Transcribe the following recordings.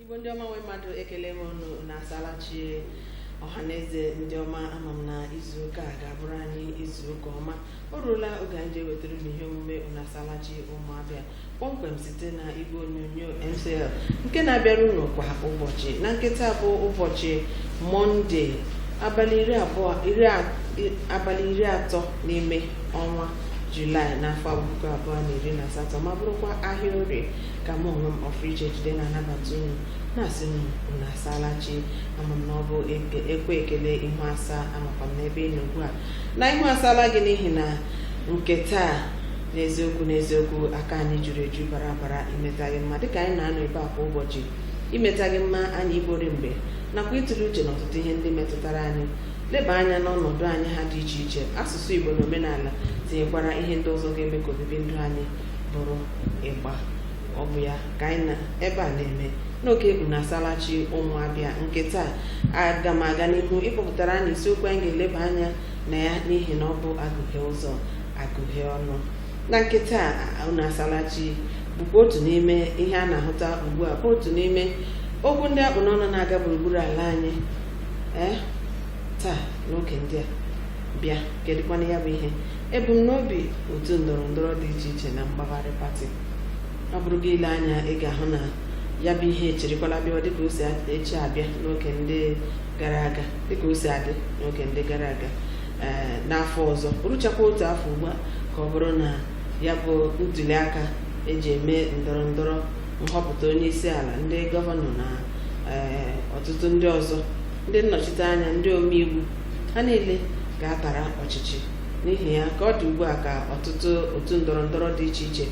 igbo ndị ọma nwe mmadụ ekele m unu unu asalachi ọha na eze ndị ọma ama m na izu ụka a ga-abụrụ anyị izu ụka ọma o ruola oge anyị ji ewetara unu ihe omume unu asalachi ụmụ abịa kpọmkwem site na igwe onyonyo MCL nke na-abịara unu kwa ụbọchị na nke taa bụ ụbọchị mọnde abalị iri abụọ iri a- i- abalị iri atọ n'ime ọnwa julaị n'afọ puku abụọ na iri na asatọ ma bụrụkwa ahịa orie ka mụ onwe m ọfriche jide na-anabata unu na-asị unu unu asaala chi ama m na ọ bụ eke- ekwe ekele ihu asaa amakwa m n'ebe ị nọ ugbu a na ihu asaala gị n'ihi na nke taa n'eziokwu n'eziokwu aka anyị juru eju bara abara imeta gị mma dịka anyị na-anọ ebe a kwa ụbọchị imeta gị mma anyị igbori mgbe nakwa ịtụle uche n'ọtụtụ ihe ndị metụtara anyị leba anya n'ọnọdụ anyị ha dị iche iche asụsụ igbo na omenala tinyekwara ihe ndị ọzọ ga-eme ka obibi ndụ anyị bụrụ igba ọ bụ ya ka anyị nọ ebe a na-eme n'oge unu asalachi ụmụ abịa nke taa aga m aga n'ihu ịkpọpụtara anyị isiokwu anyị ga-eleba anya na ya n'ihi na ọ bụ agụghị ụzọ agụghị ọnụ na nke taa unu asalachi bụkwa otu n'ime ihe a na-ahụta ugbu a bụ otu n'ime okwu ndị akpụ n'ọnụ na-aga gburugburu ala anyị ee taa n'oge ndị a bịa kedụkwanụ ya bụ ihe ebumnobi otu ndọrọ ndọrọ dị iche iche na mgbagharị pati ọ bụrụ gị ile anya ị ga-ahụ na ya bụ ihe echirikwala bịa dịka o si echi abịa n'oge ndị gara aga dịka o si adị n'oge ndị gara aga eh, n'afọ ọzọ ruchakwa otu afọ ugbu a ka ọ bụrụ na ya bụ ntuli aka eji eme ndọrọ ndọrọ nhọpụta onye isi ala ndị gọvanọ na eh, ọtụtụ ndị ọzọ ndị nnọchite anya ndị omeiwu ha niile ga-atara ọchịchị n'ihi ya ka ọ dị ugbu a ka ọtụtụ otu ndọrọ ndọrọ dị iche iche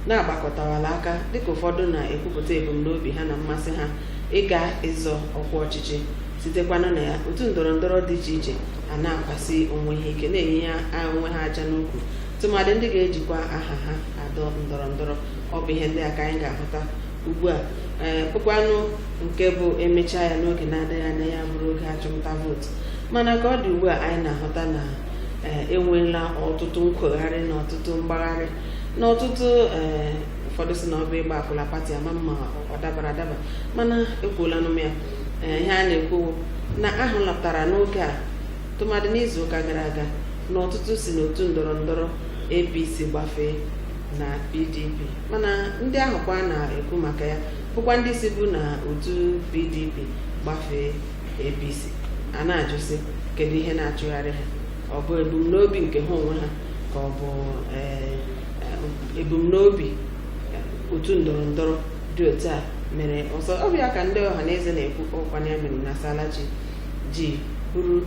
na-agbakọtawala aka dịka ụfọdụ na-ekwupụta ebumnobi ha na mmasị ha ịga ịzọ ọkwa ọchịchị sitekwanụ na ya otu ndọrọ ndọrọ dị iche iche a na-akwasi onwe ha ike na-enye ya onwe ha aja n'ukwu tụmadị ndị ga-ejikwa aha ha adọ ndọrọ ndọrọ ọ bụ ihe ndị a ka anyị ga-ahụta ugbu a ee kpụkwanụ nke bụ emechaa ya n'oge na-adịghị anya ya bụrụ oge achụmnta vootu mana ka ọ dị ugbu a anyị na-ahụta na ee enweela ọtụtụ nkwogharị na ọtụtụ mgbagharị na ọtụtụ ee ụfọdụ sị na ọ bụ ịgba akwụla pati ama m ma ọ dabara adaba mana ekwuolanụ m ya Ee, ihe a na-ekwu wụ na ahụ lọtara n'oge a tụmadị n'izu ụka gara aga na ọtụtụ si n'otu ndọrọ ndọrọ APC gbafee na PDP mana ndị ahụ kwa a na-ekwu maka ya bụkwa ndị sibu na otu PDP gbafee APC a na-ajụzi kedu ihe na-achụgharị ha ọ bụ ebumnobi nke ha onwe ha ka ọ bụ ee, ebumnobi otu ndọrọ ndọrọ dị otu a mere ọzọ ọ bụ ya ka ndị ọha na eze na-ekwu ọ bụkwanụ ya mere unu asalachi ji buru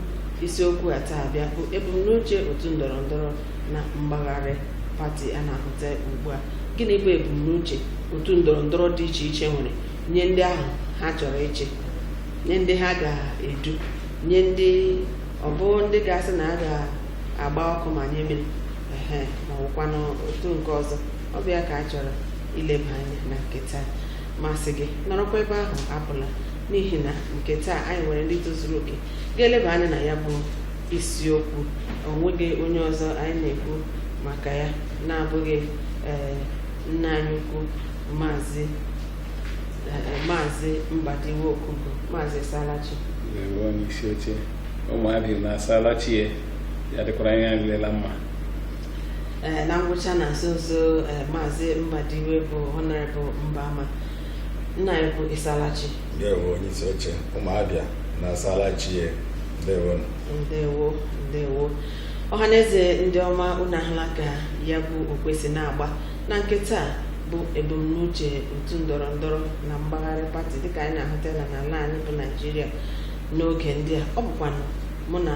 isiokwu a taa bịa bụ ebumnuche otu ndọrọ ndọrọ na mgbagharị pati a na-ahụta ugbu a gịnị bụ ebumnuche otu ndọrọ ndọrọ dị iche iche nwere nye ndị ahụ ha chọrọ ịchị nye ndị ha ga-edu nye ndị ọ bụ ndị ga-asị na a ga-agba ọkụ ma nye mmiri ehe ma ọ bụkwanụ otu nke ọzọ ọ bụ ya ka a chọrọ ileba anya na nke taa m asị gị nọrọkwa ebe ahụ apụla n'ihi na nke taa anyị nwere ndị tozuru oke ga-eleba anya na ya bụ isiokwu onweghị onye ọzọ anyị na-ekwu maka ya na-abụghị ee nna anyị ukwu maazị ee, maazị mbadiwe okugo maazị ị salachi Ndewo onye isi oche ụmụ Abịa unu asala chi ya ya dịkwara anyị niile mma Ee, na ngwụcha na nso nso ee, maazị Mbadiwe bụ Honorable Mbama nna anyị ukwu ị salachi ndewo onye isi oche ụmụ Abịa unu asala chi e ndewo ndewo ndewo ọhaneze ndị ọma unu ahụla ka ya bụ okwe si na-agba na nke taa bụ ebumnuche otu ndọrọ ndọrọ na mgbagharị pati dịka anyị na-ahụta ya n'ala anyị bụ naijiria n'oge ndị a ọ bụkwanụ mụ na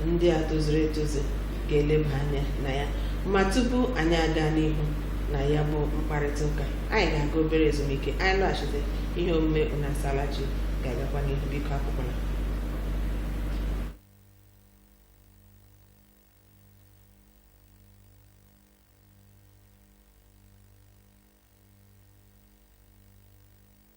ndị a tozuru etozu ga-eleba anya na ya ma tupu anyị aga n'ihu na ya bụ mkparịta ụka anyị ga-aga obere ezumike anyị lọghachite ihe omume unu asalachi ga-agakwa n'ihu biko apụkwana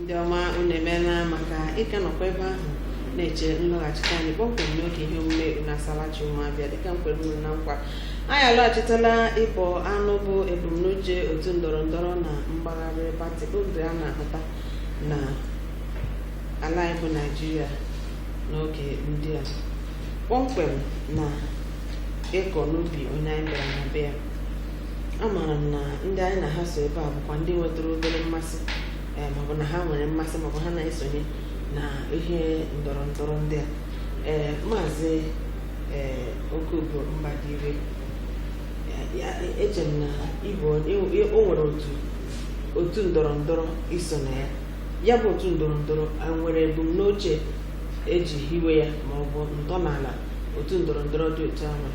ndị ọma unu emeela maka ịka nọkwa ebe ahụ na-eche nlọghachite anyị kpọmkwem n'oge ihe omume unu asalachi ụmụ Abịa dịka m kwere unu na nkwa anyị alọghachitela ịbọ anụ bụ ebumnuche otu ndọrọ ndọrọ na mgbagharị pati bụ ndị a na-ahụta na ala anyị bụ naijiria n'oge ndị a kpọmkwem na ịkọ n'ubi onye anyị bịara na be ya amaara m na ndị anyị na ha so ebe a bụkwa ndị nwetara obere mmasị ee maọbụ na ha nwere mmasị maọbụ ha na-esonye na ihe ndọrọ ndọrọ ndị a ee maazị ee okobo mbadire eche m na ịbụ o nwere otu otu ndọrọ ndọrọ i so na ya ya bụ otu ndọrọ ndọrọ a nwere ebumnuche eji hiwe ya maọbụ ntọala otu ndọrọ ndọrọ dị otu ahụ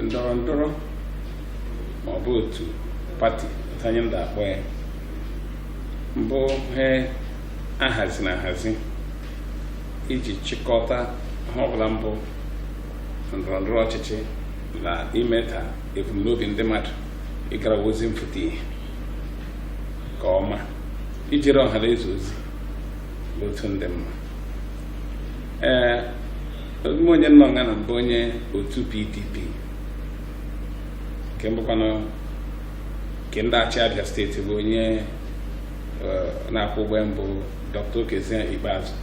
ndọrọ ndọrọ ma ọ bụ otu pati anyị ndị akpọ ya mbụ ihe ahazi na ahazi iji chịkọta ihe ọbụla mbụ ndọrọ ndọrọ ọchịchị na ime ka ebumnobi ndị mmadụ ịgara ọha ozi mfụta ihe nke ọma ijere ọha na eze ozi otu ndị mma ee ime onye nọ nga na mbụ onye otu pdp nke mbụkwanụ nke ndị achị abịa steeti bụ onye na-akwọ ụgbọ mbụ dr okezie ikpeazụ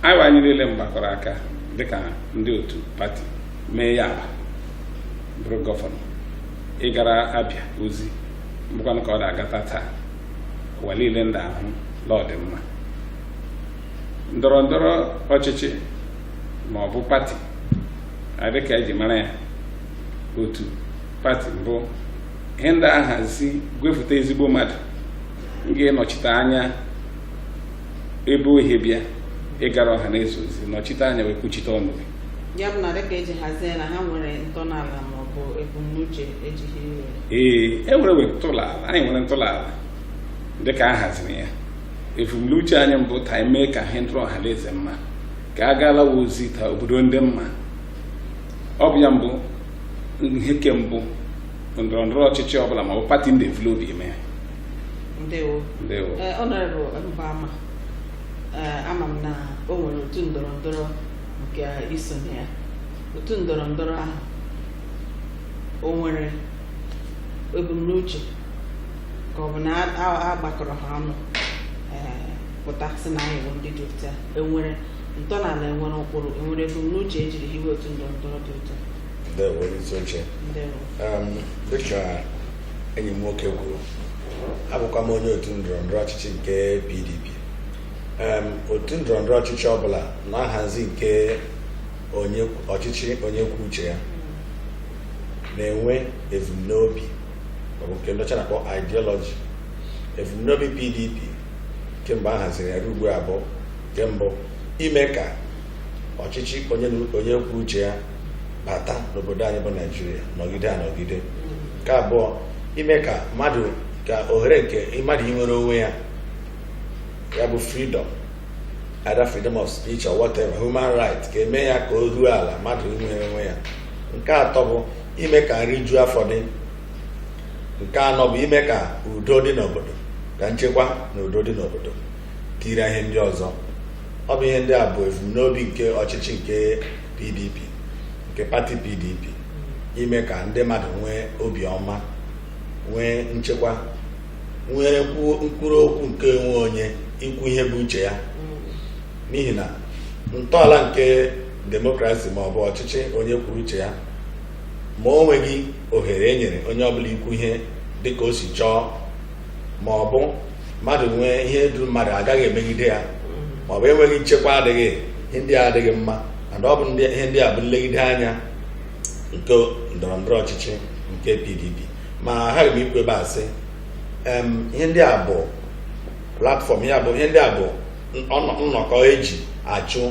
anyịwa anyị niile mgbakọrọ aka dịka ndị otu pati mee ya abịa bụrụ gọvanọ ịgara abịa ozi mbụkwanụ ka ọ na-agata taa ụwa niile ndị ahụ na ọ dị mma ndọrọ ndọrọ ọchịchị ma ọ bụ pati a dịka eji mara ya otu pati mbụ ihe ndị ahazi gwefụta ezigbo mmadụ ga-anọchite anya ebe o hi bịa ịgara ọha na eze ozi nọchite anya wee kwuchite ọnụ gị ya bụ na dịka eji hazie na ha nwere ntọala ma ọ bụ ebumnuche ejiri hiwe ee e nwere we ntọala anyị nwere ntọala dịka a haziri ya ebumnuche anyị mbụ ta anyị mee ka ihe ndịrị ọha na eze mma ka a gaala ọha ozi ta obodo ndị mma ọ bụ ya mbụ ihe ke mbụ ndọrọ ndọrọ ọchịchị ọbụla ma ọ bụ pati ndị evu la obi eme ya ndewo ndewo honourable mbama ama m na o nwere otu ndọrọ ndọrọ nke i so na ya otu ndọrọ ndọrọ ahụ o nwere ebumnuche ka ọ bụ na a- a a gbakọrọ ha ọnụ ee, pụta sị na anyị bụ ndị dị otu a enwere ntọala enwere ụkpụrụ enwere ebumnuche ejiri hiwe otu ndọrọ ndọrọ dị otu a ndewo onye isi oche ndewo Um, dịka enyi m nwoke kwuru abụkwa m onye otu ndọrọ ndọrọ ọchịchị nke pdp otu ndọrọndọrọ ọchịchị ọbụla na nhazi nke ọchịchị onye kwuo uche ya na-enwe ebumnobi maọbụ nke ndị ọcha na-akpọ ideology ebumnobi PDP kemgbe a haziri ya ruo ugbu a bụ nke mbụ ime ka ọchịchị onye kwuo uche ya bata n'obodo anyị bụ naijiria nọgide anọgide nke abụọ ime ka mmadụ ka ohere nke mmadụ inwere onwe ya ya bụ freedom either freedom of speech or whatever human right ka eme ya ka o ruo ala mmadụ inwere onwe ya nke atọ bụ ime ka nri juo afọ dị nke anọ bụ ime ka udo dị n'obodo ka nchekwa na udo dị n'obodo tiri ihe ndị ọzọ ọ bụ ihe ndị a bụ ebumnobi nke ọchịchị nke PDP nke pati PDP ime ka ndị mmadụ nwee obiọma nwee nchekwa nwere nkwuru okwu nke onwe onye ikwu ihe bụ uche ya n'ihi na ntọala nke demokrasi ma ọ bụ ọchịchị onye kwuru uche ya ma o nweghị ohere e nyere onye ọbụla ikwu ihe dịka o si chọọ ma ọ bụ mmadụ nwee ihe duru mmadụ agaghị emegide ya ma ọ bụ enweghị nchekwa adịghị ihe ndị a adịghị mma and ọ bụ ihe ndị a bụ nlegide anya nke ndọrọ ndọrọ ọchịchị nke PDP ma ha ga ikwu ebe a sị ihe ndị a bụ platform ya bụ ihe ndị a bụ nnọkọ eji achụ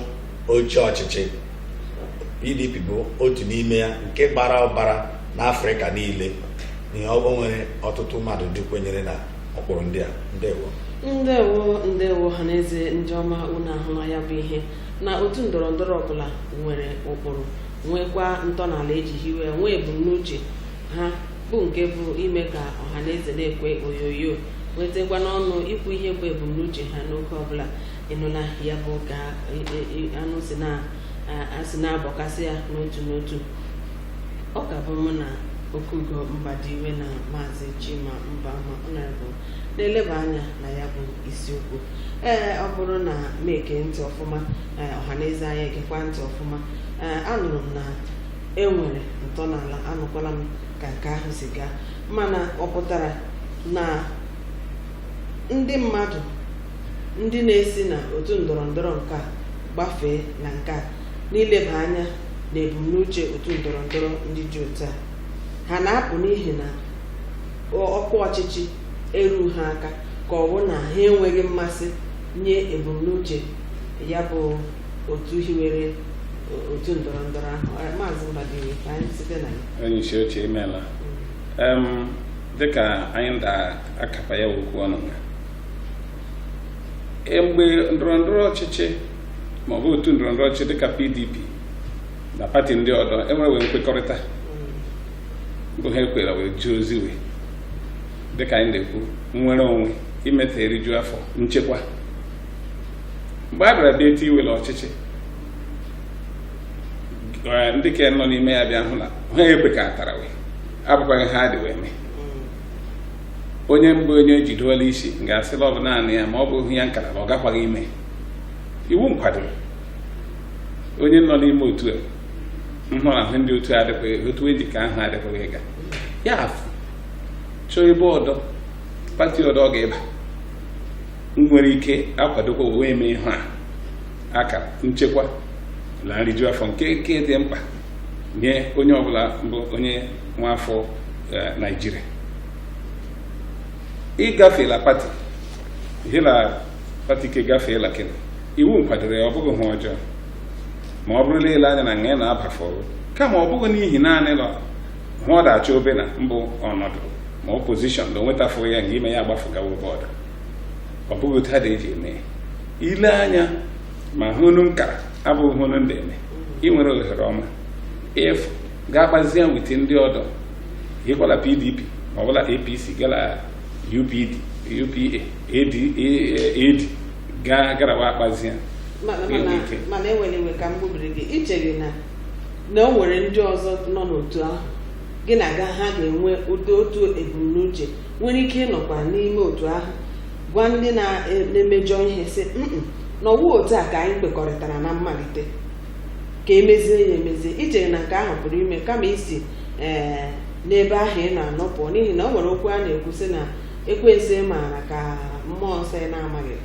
oche ọchịchị PDP bụ otu n'ime ya nke gbara ụbara n'Afrịka niile na o nwere ọtụtụ mmadụ ndị kwenyere na ụkpụrụ ndị a ndewo ndewo ndewo ọha na eze ndị ọma unu ahụla ya bụ ihe na otu ndọrọ ndọrọ ọbụla nwere ụkpụrụ nwekwa ntọala eji hiwe nwee ebumnuche ha bu nke bụ ime ka ọha na eze na-ekwe oyoyo nwetakwa n'ọnụ ikwu ihe bụ ebumnuche ha n'oge ọbụla ịnụla ya bụ ka anyị si na-abọkasị ya n'otu n'otu ọ ka bụ mụ na okugo mbadiwe na maazị chima mba ma ọnọdụ na-eleba anya na ya bụ isiokwu ee ọ bụrụ na m ege ntị ọfụma ọhaneze anyị egekwa ntị ọfụma anụrụ m na e nwere ntọala anụkwala m ka nke ahụ si gaa mana ọ pụtara na ndị mmadụ ndị na-esi na otu ndọrọ ndọrọ nke a gbafee na nke a n'ileba anya na ebumnuche otu ndọrọ ndọrọ ndị dị otu a ha na-apụ n'ihi na ọ- ọkwa ọchịchị eru ha aka ka ọ bụ na ha enweghị mmasị nye ebumnuche ya bụ otu hiwere otu ndọrọ ndọrọ ahụ maazị Mbadiwe ka anyị site na ya onye isi oche imeela dịka anyị nda akapa ya okwu ọnụ ya e, mgbe ndọrọ ndọrọ ọchịchị ma ọ bụ otu ndọrọ ndọrọ ọchịchị dịka PDP na pati ndị ọdọ enwere wee nkwekọrịta bụ ha ekwere wee jụọ ozi wee dịka anyị na-ekwu nnwere onwe imeta eriju afọ nchekwa mgbe a bịara bịa etu iwere ọchịchị eh, ndị ka nọ n'ime ya bịa hụ na ha ekwekọtara wee abụkwaghị ha dị wee mee onye mbụ onye jidola isi ga-asị la ọ bụ naanị ya ma ọ bụ ya nkara na ọ gakwaghị ime iwu nkwadoro onye nọ n'ime otu a nhụ na ahụ ndị otu adịkwaghị otu eji ka ahụ adịkwaghị ịga ya afụ chọọ ebe ọdọ pati ọdọ ọ ga-ịba nwere ike akwadokwa wee eme ihe a aka nchekwa na nriju afọ nke nke dị mkpa nye onye ọbụla bụ onye nwa afọ eh, Naịjirịa ịgafela pati hela pati ke gafeela kena iwu nkwadoro ya ọ bụghị hụ ọjọọ ma ọ bụrụ la ile anya na nga na-aba fọrọ kama ọ bụghị n'ihi naanị na hụ ọ da-achọ be na mbụ ọnọdụ ma ọ pozishọn na onwetafụ ya nga ime ya agbafụ gawa ebe ọdọ ọ bụghị otu ha dị eji eme ya. ile anya ma hụ unu nkara abụghị hụ unu ndị eme ị nwere ohere ọma ịfụ ga-akpazie with ndị ọdọ ịkwala pdp ma ọbụla apc gala upd upa ad ad ga garawa akpazie mana Gịnị mana- ike? mana ewela iwe ka m gbubiri gị ichere na na o nwere ndị ọzọ nọ n'otu ahụ gị na ga ha ga-enwe ụdị otu ebumnuche nwere ike ịnọkwa n'ime otu ahụ gwa ndị na-emejọ ihe sị "Mm-mm, na ọwụ otu a ka anyị kwekọrịtara na mmalite ka emezie ya emezie ichere na nke ahụ pụrụ ime kama isi ee n'ebe ahụ ị na-anọ pụọ n'ihi na o nwere okwu a na-ekwu sị na ekwensu maara ka mmụọ nsọ ya na-amaghị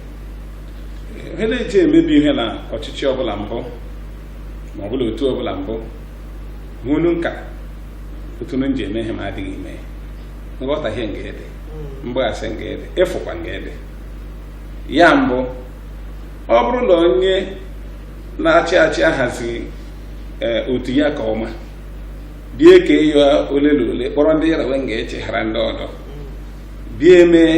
ihe na-eji emebi ihe na ọchịchị ọbụla mbụ ma ọbụla otu ọbụla mbụ hụnu nka otu nji eme ihe ma adịghị ime ya nghọtahie nga ịdị hmm. mgbaghasị nga ịdị ịfụkwa nga ịdị ya mbụ ọ bụrụ na onye na-achị achị ahazighị eh, otu ya ka ọma bie ka ịyọ ole na ole kpọrọ ndị yara wee ga-echeghara ndị ọdọ bie mee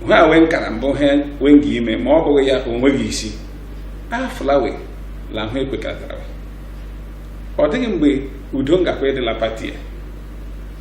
ha wee nkara mbụ ha wee ga ime ma ọ bụghị ya onweghị isi afụlawe la hụ ekwekọtara ọ dịghị mgbe udo ngakwa ịdị la pati ya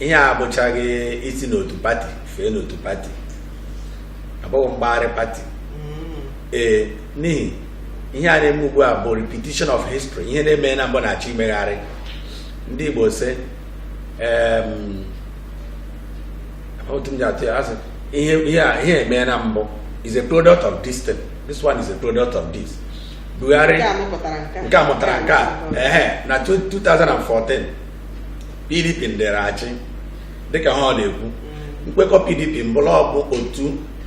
ihe a abụchaghị isi n'otu pati fee n'otu pati abụghị mgbagharị pati mm. ee n'ihi ihe a na-eme ugbu a bụ repetition of history ihe na-eme na mbụ na-achọ imegharị ndị Igbo si otu m ji atụ ya asị ihe ihe eme na mbụ is a product of this thing this one is a product of this Buhari nke a mụtara nke a na 2014 PDP ndịrị achị dịka ha ọ na-ekwu nkwekọ PDP mbụ la ọ bụ otu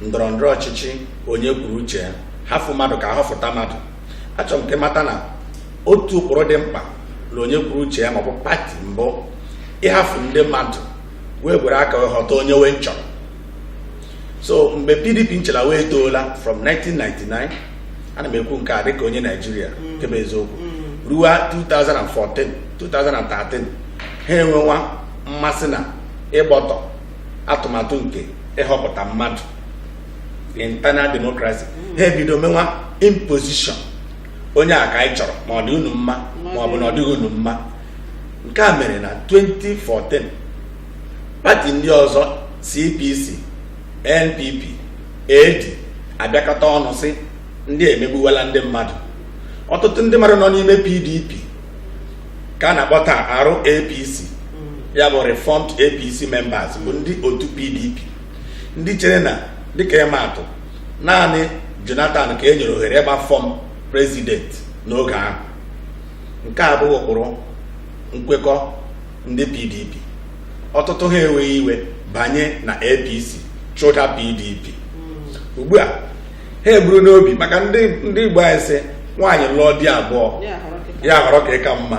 ndọrọ ndọrọ ọchịchị onye kwuru uche ya hafụ mmadụ ka ahọfụta mmadụ achọrọ m ka ị mata na otu ụkpụrụ dị mkpa na onye kwuru uche ya maọbụ pati mbụ ịhafụ ndị mmadụ wee gwere aka wee họta onye wee nchọrọ so mgbe PDP nche la wee etoola from 1999 ana m ekwu nke a dịka onye naijiria mm. nke bụ eziokwu mm. ruo 2014 2013 ha enwewa mmasị na ịgbọtọ atụmatụ nke ịhọpụta mmadụ internal democracy mm. ha ebido menwa imposition onye a ka anyị chọrọ ma ọ dị unu mma ma ọ bụ na ọ dịghị unu mma nke a mere na 2014 pati ndị ọzọ CPC NPP AD abịakọta ọnụ sị ndị a emegbuwala ndị mmadụ ọtụtụ ndị mmadụ nọ n'ime PDP ka a na-akpọ taa RAPC ya bụ reformed APC members bụ ndị otu PDP ndị chere na dịka ịma atụ naanị Jonathan ka e nyere ohere ịgba fọm prezidenti n'oge ahụ nke a abụghị ụkpụrụ nkwekọ ndị PDP ọtụtụ ha ewere iwe banye na APC chụda PDP hmm. ugbu a ha eburu n'obi maka ndị Igbo anyị sị nwaanyị lụọ di abụọ ya ahọrọ nke ka mma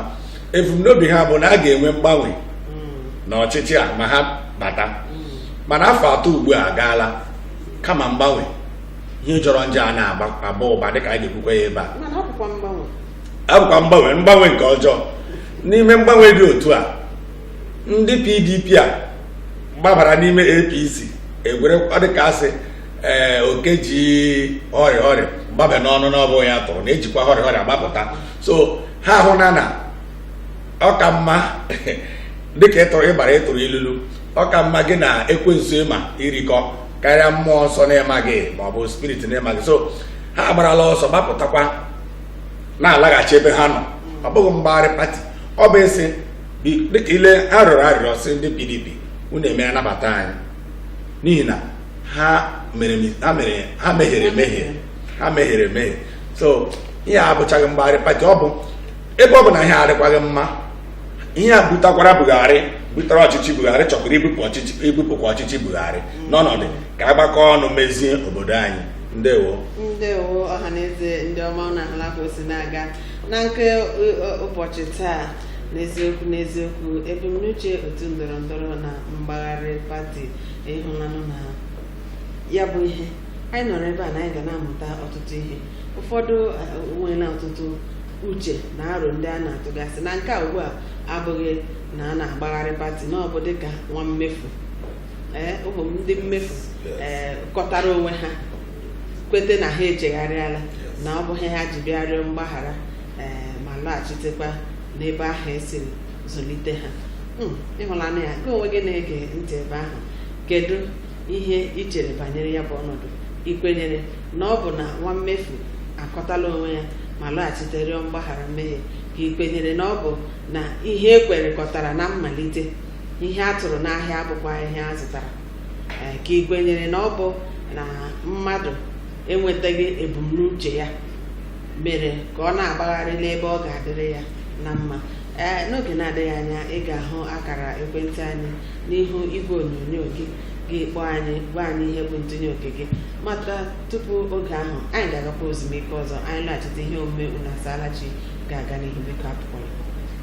ebumnobi ha bụ na a ga-enwe mgbanwe hmm. n'ọchịchị a ma ha bata hmm. mana afọ atọ ugbu a agaala kama mgbanwe ihe jọrọ njọ a na-aba ụba dịka anyị ga-ekwukwa ya ebe a abụkwa mgbanwe mgbanwe nke ọjọọ n'ime mgbanwe dị otu a ndị pdp a gbabara n'ime apc egwere ọ dị ka asị ee eh, oke ji hurry hurry gbaba n'ọnụ n'ọbụghị ya tụrụ na-ejikwa hurry hurry agbapụta so ha hụ na na ọ ka mma dịka ịtụrụ ịgbara ịtụrụ ilulu ọ ka mma gị na ekwensu ị ma irikọ karịa mmụọ nsọ na ị maghị maọbụ spirit na ị maghị so ha agbarala ọsọ gbapụtakwa na-alaghachi ebe ha nọ ọ bụghị mgbagharị pati ọ bụ ịsị bi- dịka ị lee ha rịọrọ arịrịọ sị ndị pdp unu eme anabata anyị n'ihi na ha mere mi- ha mere ha mehiere emehie ha mehiere emehie so ihe a abụchaghị mgbagharị pati ọ bụ ebe ọ bụ na ihe adịkwaghị mma ihe a butakwara Buhari butere ọchịchị Buhari chọkwara ibupụ ọchịchị ibupụkwa ọchịchị Buhari n'ọnọdụ ka a gbakọọ ọnụ mezie obodo anyị ndewo ndewo ọhaneze ndị ọma unu ahụla ka o si na-aga na nke ụ- ụ- ụbọchị taa n'eziokwu n'eziokwu ebumnuche otu ndọrọ ndọrọ na mgbagharị pati ịhụlanụ na ya bụ ihe anyị nọrọ ebe a na anyị ga na-amụta ọtụtụ ihe ụfọdụ eh, nweela ọtụtụ uche na aro ndị a na-atụgasị na nke a ugbu a abụghị na a na-agbagharị pati na ọ bụ dịka nwa mmefu ee ụmụ m ndị mmefu Yes. ee kọtara onwe ha kwete na ha echegharịala Yes. na ọ bụ ihe ha ji bịa rịọ mgbaghara ee ma lọghachitekwa n'ebe ahụ e siri zụlite ha Mm, ịhụlanụ ya gị onwe gị na-ege ntị ebe ahụ kedu ihe i chere banyere ya bụ ọnọdụ ị kwenyere na ọ bụ na nwa mmefu akọtala onwe ya ma lọghachite rịọ mgbaghara mmehie ka ị kwenyere na ọ bụ na ihe e kwerekọtara na mmalite ihe a tụrụ n'ahịa abụkwa ihe a zụtara eh, ka ị kwenyere na ọ bụ na mmadụ enwetaghị ebumnuche ya mere ka ọ na-agbagharị n'ebe ọ ga-adịrị ya na mma ee n'oge na-adịghị anya ị ga-ahụ akara ekwentị anyị n'ihu igwe onyonyo gị gị kpọọ anyị gwa anyị ihe bụ ntụnye oke gị mata tupu oge ahụ anyị ga-agakwa ozumike ọzọ anyị laghachite ihe omume unu asaala chi ga-aga n'ihu biko apụkwala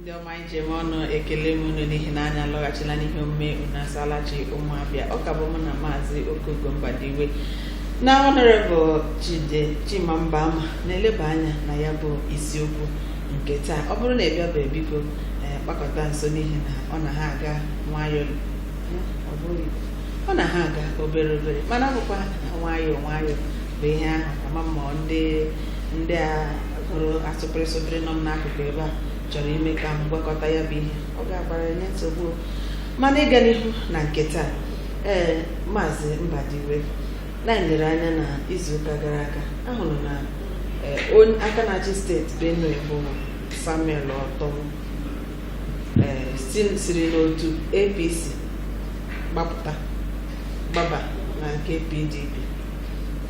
ndị ọma anyị ji eme ọnụ ekele m unu n'ihi na anyị alọghachila n'ihe omume unu asaala chi ụmụ Abịa ọ ka bụ mụ na maazị okogo mbadiwe na honourable jide chima mbaama na-eleba anya na ya bụ isiokwu nke taa ọ bụrụ na ị bịabeghị biko ee, kpakọta nso n'ihi na ọ na ha aga nwayọọ ọ bụghị ọ na ha aga obere obere mana ọ bụkwa nwayọọ nwayọọ bụ ihe ahụ ama m ma ndị ndị a gụrụ asụpịrị sụpịrị nọ m n'akụkụ ebe a chọrọ ime ka m gwakọta ya bụ ihe ọ ga-agbara nye nsogbu o. mana ịga n'ihu na nke taa ee maazị Mbadiwe na anyị lere anya na izuụka gara aga a hụrụ na ee, onye aka na-achị steeti Benue bụ Samuel Ortom ee, si- siri n'otu APC gbapụta gbaba na nke PDP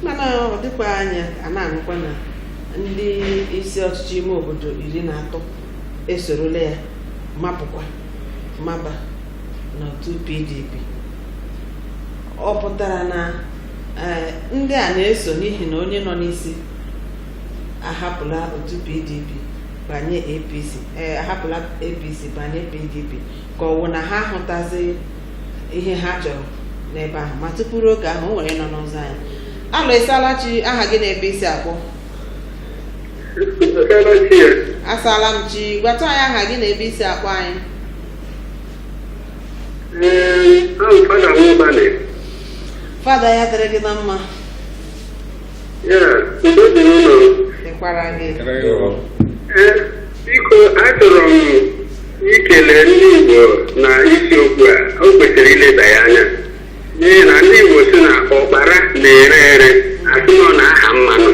mana ọ dịkwa anya a na-anụkwa na ndị isi ọchịchị ime obodo iri na atọ esorola ya mapụkwa maba n'otu PDP ọ pụtara na eh, ndị a na-eso n'ihi na onye nọ n'isi ahapụla otu PDP banye APC eh, ahapụla APC banye PDP ka ọ wụ na ha ahụtazi ihe ha chọrọ n'ebe ahụ ma tupu ruo oge ahụ o nwere nọ n'ụzọ anyị alo ị saala chi aha gị na ebe i si akpọ asaala m chi gwatụ anyị aha gị na ebe i si akpọ anyị fada ya dịrị gị na mma Dịkwara gị. Eh, biko achọrọ m ikele ndị Igbo na isiokwu a o kwesịrị ileba ya anya n'ihi na ndị Igbo sị na ụkpara na-ere ere a sị na ọ na-aha mmanụ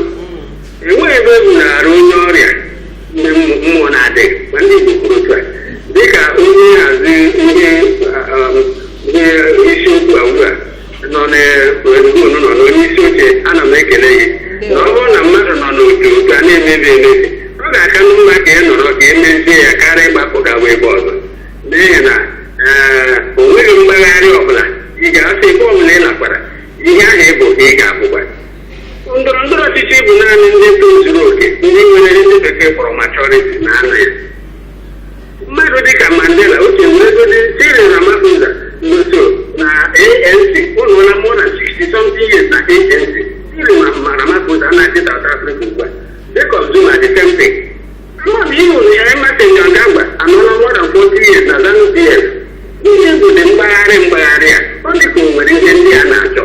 enweghị ebe e bunara onye ọrịa ndị mmụ- mmụọ na-adịghị ma ndị Igbo kwuru otu a dịka onye nhazi ndị ah, ah, ndị isiokwu a ugbu a nọ n'otu unu nọ n'onye isi oche ana m ekele gị na ọ bụrụ na mmadụ nọ n'otu otu a na-emebi emebi ọ ga-aka mma ka ị nọrọ ka e mezie ya karịa ịgbapụ gawa ebe ọzọ n'ihi na ee, o nweghị mgbagharị ọbụla ị ga-asị ebe ọbụla ị nakwara ihe ahụ ị bụ ka ị ga-abụkwa ndọrọ ndọrọ ọchịchị bụ naanị ndị tozuru oke ndị nwere ndị bekee kpọrọ maturity na-anọ ya mmadụ dịka mandela oche weregodi cyril ramaphosa nso na anc ọ nọọla more than 60 something years na anc cyril ma ma ramaphosa na-achị south africa ugbu a jacob zuma the same thing ama m ịhụrụ ya emmerson mnangagwa anọla more than 40 years na zanu pf ihe bụdị mgbagharị mgbagharị a ọ dị ka o nwere ihe ndị a na-achọ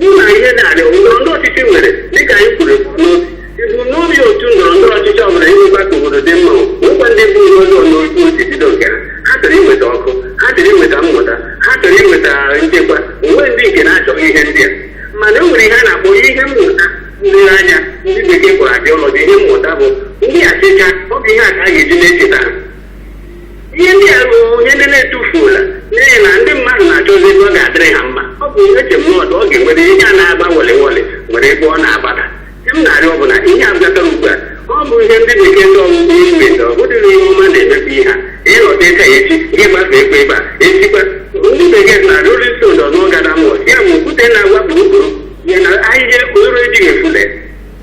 bụ na ihe na-adị ndọrọ ndọrọ ọchịchị nwere dịka anyị kwuru ebumnobi otu ndọrọ ndọrọ ọchịchị ọ bụla ịnwekwa ka obodo dị mma nwekwa ndị bụ ihe ọjọọ n'otu o si bido nke ha ha chọrọ inweta ọkụ ha chọrọ inweta mmụta ha chọrọ inweta nchekwa onwe ndị nke na-achọghị ihe ndị a mana e nwere ihe a na-akpọ ihe mmụta nlere anya ndị bekee kpọrọ ideology ihe mmụta bụ ndị echiche ha ọ bụ ihe a ka a ga-eji na-echeta ha ihe ndị a bụ ihe ndị na-etufula n'ihi na ndị mmadụ na-achọzi ebe ọ ga-adịrị ha mma ọ bụ ihe eche mmadụ ọ ga-enwere ihe a na-agba wele wele nwere ebe ọ na-agbada ihe m na-arịọ bụ na ihe a bịatara ugbu a ọ bụ ihe ndị na-eke ndị ọgwụgwọ ime ndị ọ bụdịrị ihe ọma na-emebi ihe a ịnọta ịka ya echi gị gbafe ekwe ebe a esikwa ndị bekee na rolling stone do not gather moss ya bụ okwute na-agba gburugburu ya na ahịhịa okporo ejighị efule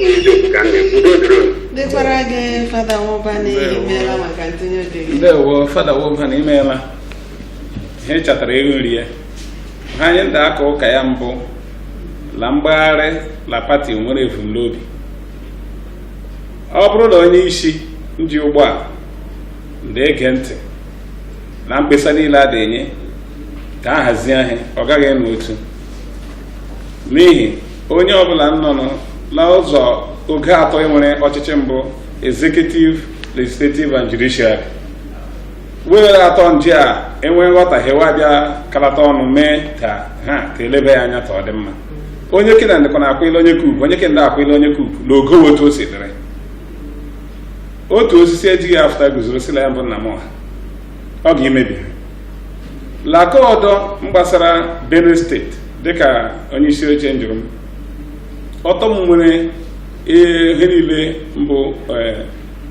n'eziokwu ka m na-ekwu udo dịrị unu dịkwara gị fada nwaubani imeela maka ntinye oge gị ndewo fada nwaubani imeela ihe chatara ego nri ya ha anyị ndị aka ụka ya mbụ la mgbagharị la pati nwere ebumnobi ọ bụrụ na onye isi nji ụgbọ a na-ege ntị na mkpesa niile a na-enye ka a hazie ihe ọ gaghị ịnọ otu n'ihi onye ọbụla nnọnụ n'ụzọ oge atọ e nwere ọchịchị mbụ executive legislative and judiciary were atọ ndị a enwee nghọtahie wa bịa kalata ọnụ mee ka ha ka elebe ya anya ka ọ dị mma onye kena ndịkwa na-akwụile onye kuku onye kenda akwụile onye kuku na ogo otu o si dịrị otu osisi ejighị afụta guzoro sị la ya bụ nna m ọha ọ ga-emebi ha la aka ọdọ mgbasara benue steeti dịka onye isi oche njụrụ m ortom nwere ihe niile mbụ eh,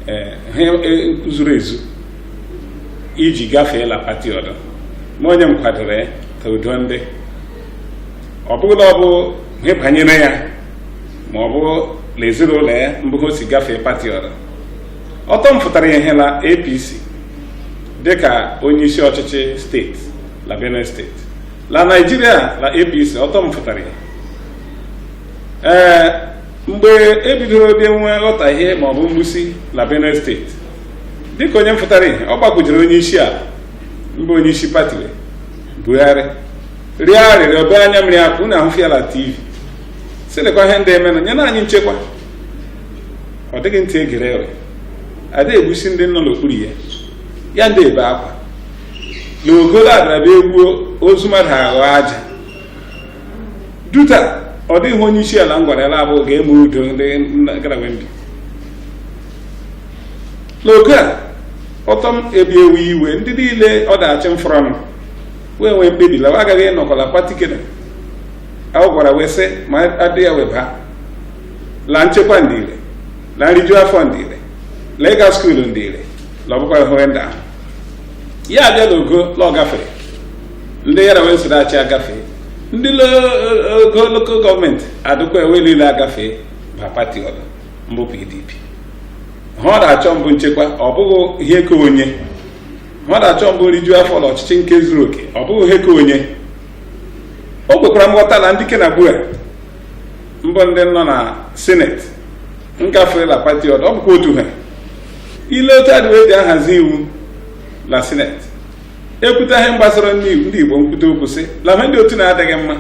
eh, eh, zuru ezu iji gafee la pati ọdọ ma onye nkwadoro ya ka udo ndị ọ bụghị la ọ bụ ihe banyere ya ma ọ bụ na ezinụlọ ya mbụ o si gafee pati ọdọ ortom fụtara ihe la apc dịka onye isi ọchịchị steeti la benue steeti la naijiria la apc ortom fụtara ihe ee mgbe ebidoro bịa nwee nghọtahie maọbụ mgbusi la benue steeti dịka onye mfụtara ihe ọ gbakwujere onye isi ala mbụ onye isi pati buhari rịọ arịrịọ bee anya mmiri akụ na ahụfịa la tv sị lekwa ihe ndị emenụ nye na anyị nchekwa ọ dịghị ntị egere eghe a da-egbusi ndị nọ n'okpuru ya ya ndị ebe akwa na ogolo adaraba egbuo ozu mmadụ aghọ aja duta ọ dịghị onye isi ala mgwara ya labụ ga-eme udo ndị garawe ndị n'oge a ortom ebi ewe iwe ndị niile ọ da-achị m fọrọ m wee nwee mkpebi la wa agaghị ịnọkọ la pati kena a gwara wee sị ma adị ya wee baa la nchekwa ndị ire la nriju afọ ndị ire la ịga skuulu ndị ire la ọbụkwara hụrụ ndị ahụ ya abịa n'ogo la ọ gafere ndị yara wee soro achị agafee ndị ogo lokal gọọmenti adịkwa ewe niile agafee ba pati ọdọ mbụ pdp ihe ọ da-achọ mbụ nchekwa ọ bụghị ihe ka onye ihe ọ da-achọ mbụ nriju afọ la ọchịchị nke zuru oke ọ bụghị ihe ka onye o kwekwara nghọta na ndị ke na gbura mbụ ndị nọ na sineti ngafela pati ọdọ ọ bụkwa otu ihe ile otu adịwa eji ahazi iwu na sineti ekwute ihe gbasara ndị igbo nkwute okwu sị na ha ndị otu na-adịghị mma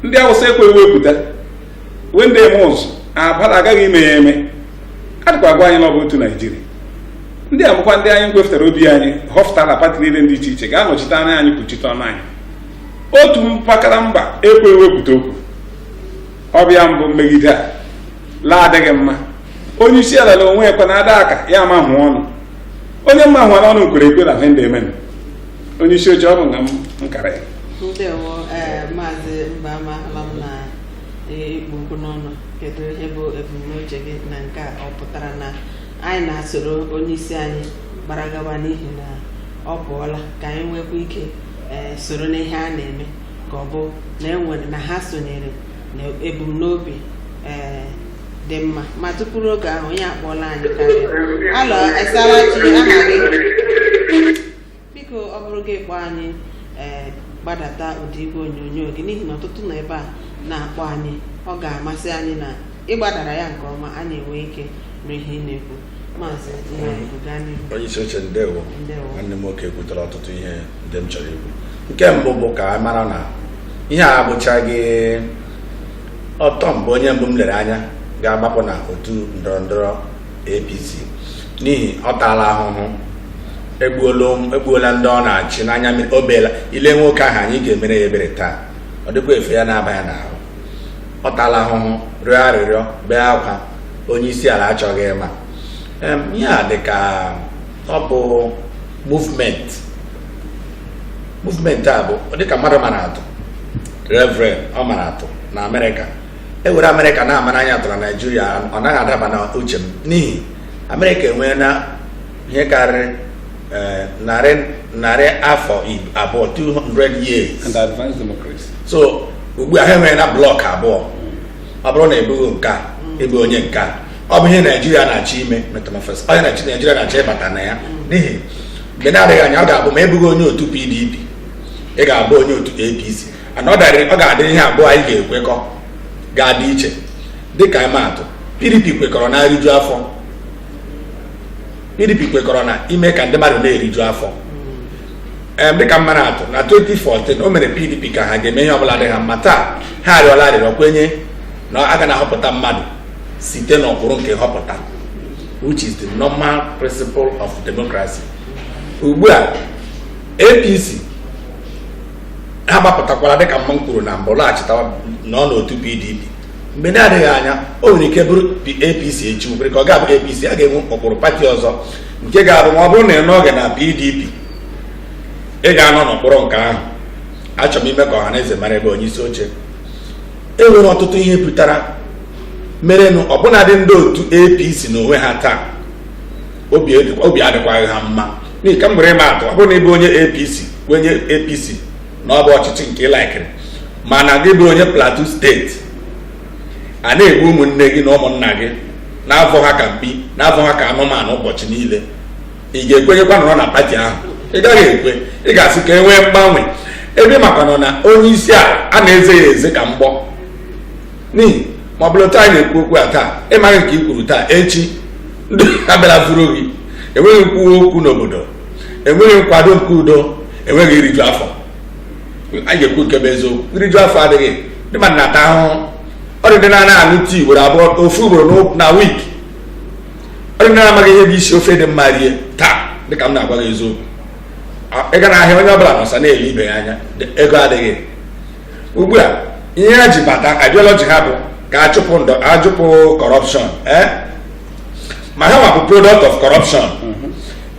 ndị awụsa ekwe wepụta wee ndị eme ụzụ abara agaghị ime ya eme adịkwa agwa anyị na ọ bụ otu naijiria ndị a mbụkwa ndị anyị kwefụtara obi anyị họpụtara pati niile dị iche iche ga-anọchite anya anyị kwuchite ọnụ anyị otu mpakara mba ekwe ewepụta okwu ọ bụ ya mbụ mmegide a la-adịghị mma onye isi ala na onwe ekwe na ada aka ya ama hụ ọnụ onye mma hụara ọnụ kwere ekwe na ihe ndị emenụ onye isi oche ọ bụ nga m nkara ya ndewo ee maazị mbama ahụla m na ee, ị kpụ okwu n'ọnụ kedu ihe bụ ebumnuche gị na nke a ọ pụtara na anyị na-asoro onye isi anyị gbara gawa n'ihi na ọ pụọla ka anyị nwekwa ike ee soro n'ihe a na-eme ka ọ bụ na enwere na ha sonyere na ebumnobi ee dị mma ma tupu oge ahụ onye akpọọla anyị karịa hello ị saara chi aha gị biko ọ bụrụ gị kpọọ anyị ee gbadata ụda igwe onyonyo gị n'ihi na ọtụtụ nọ ebe a na-akpọ anyị ọ ga-amasị anyị na ị gbadara ya nke ọma anyị enwee ike nụ ihe ị na-ekwu onye isi oche ndewo nwanne m nwoke kwutara ọtụtụ ihe ndị m chọrọ ikwu nke mbụ bụ ka a mara na ihe a abụchaghị ortom bụ onye mbụ m lere anya ga-agbapụ na otu ndọrọ ndọrọ APC n'ihi ọ taala ahụhụ egbuola ndị ọ na-achị n'anya mmiri o beela ị lee nwoke ahụ anya ị ga-emere ya ebere taa ọ dịkwa efe ya na-aba ya n'ahụ ọ taala ahụhụ rịọ arịrịọ bee akwa onye isi ala achọghị ịma ihe a dị ka ọ bụ movement movement a bụ dịka mmadụ mara atụ reverend ọ mara atụ na amerịka e were amerịka na-amara anyị atụ na naijiria ọ naghị adaba na uche m n'ihi amerịka enweela ihe karịrị eh, narị narị afọ abụọ 200 years and advanced democracy so ugbu a ha enweela blọk abụọ ọ bụrụ na ị bụghị nke a ị bụ onye nke a ọ bụ ihe naijiria na-achọ ime metamorphosis onye naijiria na-achọ ịbata na ya n'ihi mgbe na-adịghị anya ọ ga-abụ ma ị bụghị onye otu pdp ị ga-abụ onye otu apc and ọ darịrị ọ ga-adị ihe abụọ anyị ga-ekwekọ ga-adị iche dịka ịmaatụ pdp kwekọrọ na eriju afọ pdp kwekọrọ na ime ka ndị mmadụ na-eriju afọ em dịka m mara atụ na 2014 o mere pdp ka ha ga-eme ihe ọbụla dị ha mma taa ha arịọla arịrịọ kwenye na a ga na-ahọpụta mmadụ site n'ụkpụrụ nke nhọpụta which is the normal principle of democracy ugbu a apc ha gbapụtakwara dịka mma m kwuru na mbụ laghachita nọ n'otu pdp mgbe na-adịghị anya o nwere ike bụrụ apc echi nwere ka ọ ga-abụ apc a ga-enwe ụkpụrụ pati ọzọ nke ga-abụ ma ọ bụrụ na ị nọghị na pdp ị ga-anọ n'ụkpụrụ nke ahụ achọrọ m ime ka ọha na eze mara ebe onye isi oche e nwere ọtụtụ ihe pụtara merenụ ọbụnadị ndị otu apc na onwe ha taa obi adịkwaghị ha mma n'ihi ka m were ịma atụ ọ bụrụ na ị bụ onye apc onye apc na ọ bụ ọchịchị nke ị laikiri mana gị bụ onye plateau steeti a na-egbu ụmụnne gị na ụmụnna gị na-avọ ha ka mkpi na-avọ ha ka anụmanụ ụbọchị niile ị ga-ekwenyekwa nọrọ na pati ahụ ị gaghị ekwe ị ga-asị ka e nwee mgbanwe ebe maka nọ na onye isi a a na-eze ya eze ka mgbọ n'ihi ma ọbụladị anyị na-ekwu okwu a taa ị maghị nke i kwuru taa echi ndị abịara vuru gị enweghị nkwuwa okwu n'obodo enweghị nkwado nke udo enweghị iriju afọ anyị ga-ekwu nke bụ eziokwu iriju afọ adịghị ndị mmadụ na-ata ahụhụ ọ dị ndị na-anaghị aṅụ tii ugboro abụọ ofu ugboro na wik ọ dị ndị na-amaghị ihe bụ isi ofe dị mma rie taa dịka m na-agwa gị eziokwu ị gaa na ahịa onye ọbụla nọsa na-ele ibe ya anya ego adịghị ugbu a ihe ha ji bata ideology ha bụ ka achụpụ corruption eh? ma ha nwa bụ product of corruption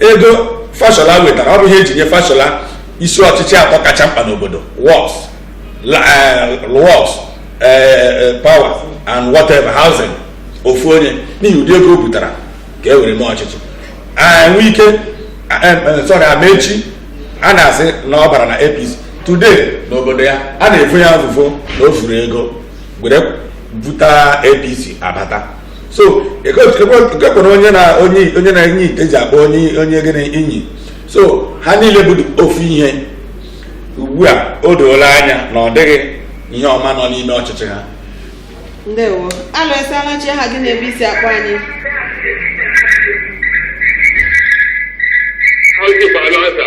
ego fashola wetara ọ bụ ihe e ji nye fashola isi ọchịchị atọ kacha mkpa n'obodo works eh, works eh, eh, power and whatever housing ofu onye n'ihi ụdị ego o butara ka e were mee ọchịchị eh wike sorry amaechi a na-asị na ọ bara na APC today n'obodo ya a na-evo ya evuvo na o vuru ego were buta APC abata so ekwekwana onye na onye na-enye ite ji akpọ onye onye gịnị inyi so ha niile bụ ofu ihe ugbu a o doola anya na ọ dịghị ihe ọma nọ n'ime ọchịchị ha ndewo alo ị saala chi aha gị na ebe i si akpọ anyị Ọ dịkwala ọzọ.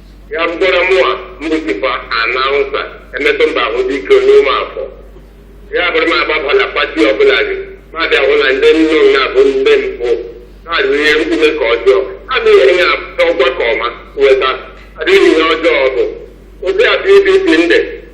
ya bụkwara mụwa m bụ chief announcer emetụmba ahụ dị ike onye ụmụafọ ya bụrụ m agbabala pati ọbụla dị m abịa hụ na ndị nọ na ya bụ ndị mpụ na-adị ihe mkpume ka ọjọọ a bụ ihe ya ọgwa ka ọma weta adịghị ihe ọjọọ bụ ụdị abụ ibi ibi ndị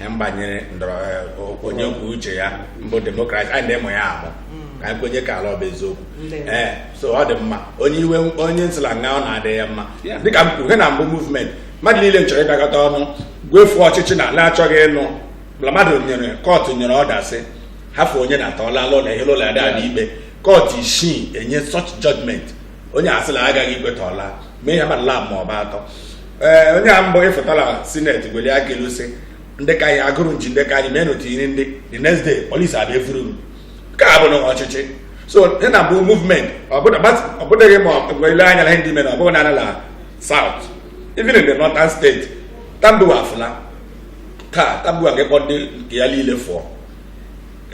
ihe mgbanyere ndọrọ eh, onye kwuo uche ya mbụ demokrasi anyị na-emụ ya amụ ka anyị kwenyekwa la ọ bụ eziokwu ee eh, so ọ dị mma onye iwe onye nsila nga ọ na-adị ya mma dịka m kwuru he na mbụ movement mmadụ niile nchọrọ ịbịakọta ọnụ gwefu ọchịchị na ala achọghị ịnụ mmadụ nyere kọtụ nyere order sị hafụ onye na-ata ọla alụ na ihe ụlọ ada ikpe kọtụ isii enye such judgment onye asịla agaghị ikweta ọla mee ya ma lab ma ọ bụ atọ ee onye a mbụ ịfụta la sineti gweli aka elu sị ndị ka anyị agụrụ nji ndị ka anyị mee n'otu iri ndị the next day polisi abịa evuru m nke a bụ na ọchịchị so ihe na bụ movement ọbụdịghị ma gwele anya na ihe ndị mere ọbụghị nanị la south even in the northern state Tambuwal afụla taa Tambuwal ga-ekpọ ndị nke ya niile fụọ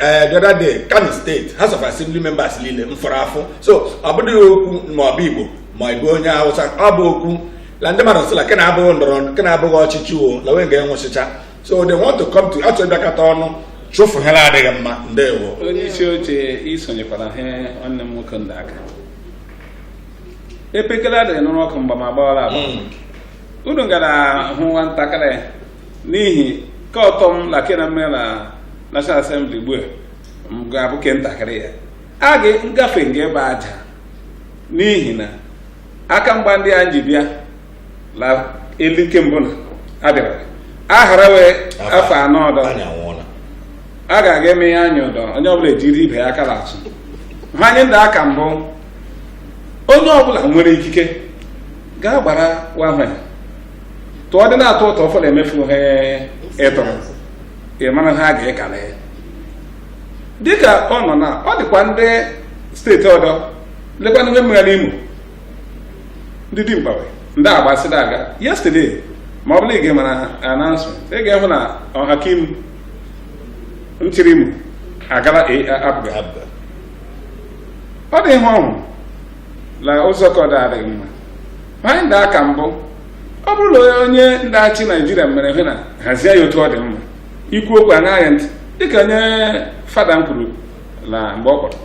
Eh, the other day Kano State House of Assembly members niile mfụrụ afụ so ọ bụghị okwu ma ọ bụ Igbo ma ọ bụ onye Hausa ọ bụ okwu na ndị mmadụ sịla kena abụghị ndọrọ kena abụghị ọchịchị wo na onwe ga-anwụchịcha so they want to come to achọ ịbịakọta ọnụ chụfụ ha na-adịghị mma ndewo onye isi oche i sonyekwara ha nwanne m nwoke ndị aka epekele adịghị n'ụlọ ọkụ mgbe ma gbawara agba hmm. unu gara hụ nwa ntakịrị n'ihi ka ọ tọ m na kena mmere na National Assembly gbua nga-abụ ke ntakịrị ya a ga ngafe nga ebe aja n'ihi na aka mgba ndị a ji bịa na elu nke mbụ na abịara ahara we afọ anọ ọdọ a ga-aga emehe anya ọdọ onye ọbụla ejiri ibe ya aka lachị he anyị ndị aka mbụ onye ọbụla nwere ikike gaa gbara wahwe tụọ dị na-atọ ụtọ ọfọ na-emefu ha ịtọ ị mara ha ga-ekala ya dịka ọ nọ na ọ dịkwa ndị steeti ọdọ lekwanụ mmegha n'Imo ndị dimkpa we ndị agbasịda aga yesterday ma ọ bụla ị ga-emara announcement ị ga-ehụ na Ohakim nchịrị Imo agala APGA APGA ọ dị ihe ọ hụrụ na ụzọ ka ọ dị adịghị mma anyị ndị aka mbụ ọ bụrụ na onye ndị achị Naịjirịa mere ihe na hazie ya otu ọ dị mma i kwuo okwu aṅaa ya ntị dịka onye fada nkwuru na mgbe ọ kpọrọ